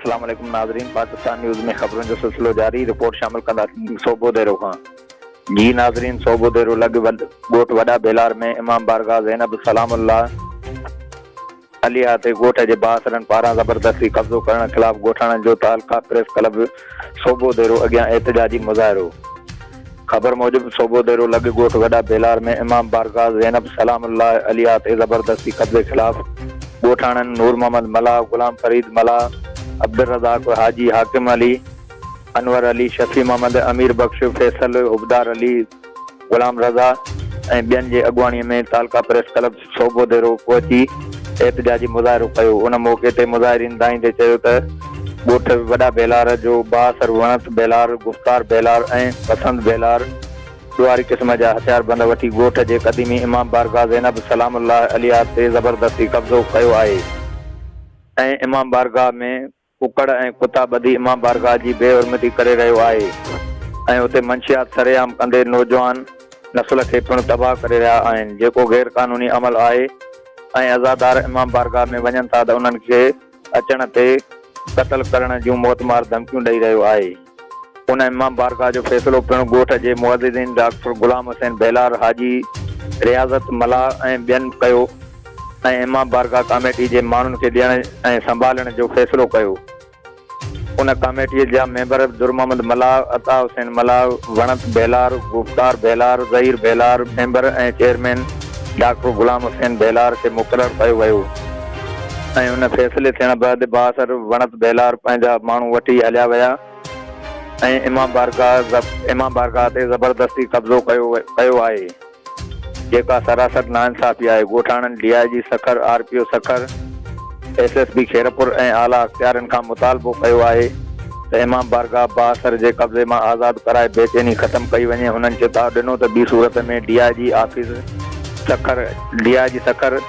السلام عليڪم ناظرين پاڪستان نيوز ۾ خبرن جو سلسلو جاري رپورٽ شامل ڪنداسين صوبو ديرو کان جي ناظرين صوبو ديرو لڳ ڳوٺ وڏا بيلار ۾ امام بارگاهه زينب سلام الله عليحا تي ڳوٺ جي بااثرن پاران زبردستي قبضو ڪرڻ خلاف ڳوٺاڻن جو تعلقه پريس ڪلب سوڀو ديرو اڳيان احتجاجي مظاهرو خبر موجب سوڀو ديرو لڳ ڳوٺ وڏا بيلار ۾ امام بارگاھ زينب سلام الله عليحا تي زبردستي قبضي خلاف ڳوٺاڻن نور محمد ملاح غلام فريد ملاح عبدالرزاق حاجي حاڪم علي انور علي شفيع محمد امير بخش فيصل حبدار علي غلام رضا ۽ ٻين جي اڳواڻي ۾ تعلقه پريس ڪلب صوبو ديرو پهچي احتجاجي مظاهرو ڪيو، ان موقعي تي مظاهرين دانهيندي چيو ته ڳوٺ وڏا بيلار جو بااثر وڻت بيلار، گفتار بيلار ۽ پسند بيلار ڏوهاري قسم جا هٿياربند وٺي ڳوٺ جي قديمي امام بارگاهه زينب سلام الله عليها تي زبردستي قبضو ڪيو آهي ۽ امام بارگاهه ۾ ڪڪڙ ۽ ڪتا ٻڌي امام بارگاهه جي بي حرمتي ڪري رهيو آهي ۽ اتي منشيات سرعام ڪندي نوجوان نسل کي پڻ تباهه ڪري رهيا آهن جيڪو غير قانوني عمل آهي ۽ عزادار امام بارگاهه ۾ وڃن ٿا ته انهن کي اچڻ تي قتل ڪرڻ جون موتمار ڌمڪيون ڏئي رهيو آهي. ان امام بارگاهه جو فيصلو پڻ ڳوٺ جي معززين ڊاڪٽر غلام حسين ڀيلار، حاجي رياضت ملاح ۽ ٻين ڪيو ۽ امام بارگاهه ڪاميٽي جي ماڻهن کي ڏيڻ ۽ سنڀالڻ جو فيصلو ڪيو. ان ڪاميٽيء جا ميمبر درمحمد ملاح، عطا حسين ملاح، وڻت ڀيلار، گفتار Bhelar, Zaheer Bhelar, member ۽ chairman doctor Ghulam Hussain Bhelar کي مقرر ڪيو ويو. ۽ ان فيصلي ٿيڻ بعد بااثر وڻت ڀيلار پنهنجا ماڻهو وٺي هليا ويا ۽ امام بارگاهه امام بارگاهه تي زبردستي قبضو ڪيو ڪيو آهي جيڪا سراسر ناانصافي آهي ڳوٺاڻن D I G Sukkur R P O Sukkur S S P Khairpur ۽ اعليٰ اختيارين کان مطالبو ڪيو آهي ته امام بارگاهه بااثر جي قبضي مان آزاد ڪرائي بيچيني ختم ڪئي وڃي هنن چتاء ڏنو ته ٻي صورت ۾ D I G office Sukkur D I G Sukkur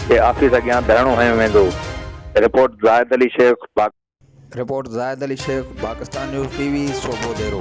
جي آفيس اڳيان ڌرڻو هنيو ويندو، report Zahid Ali Sheikh Pak. Report Zahid Ali Sheikh Pakistan news T V Sobho ديرو.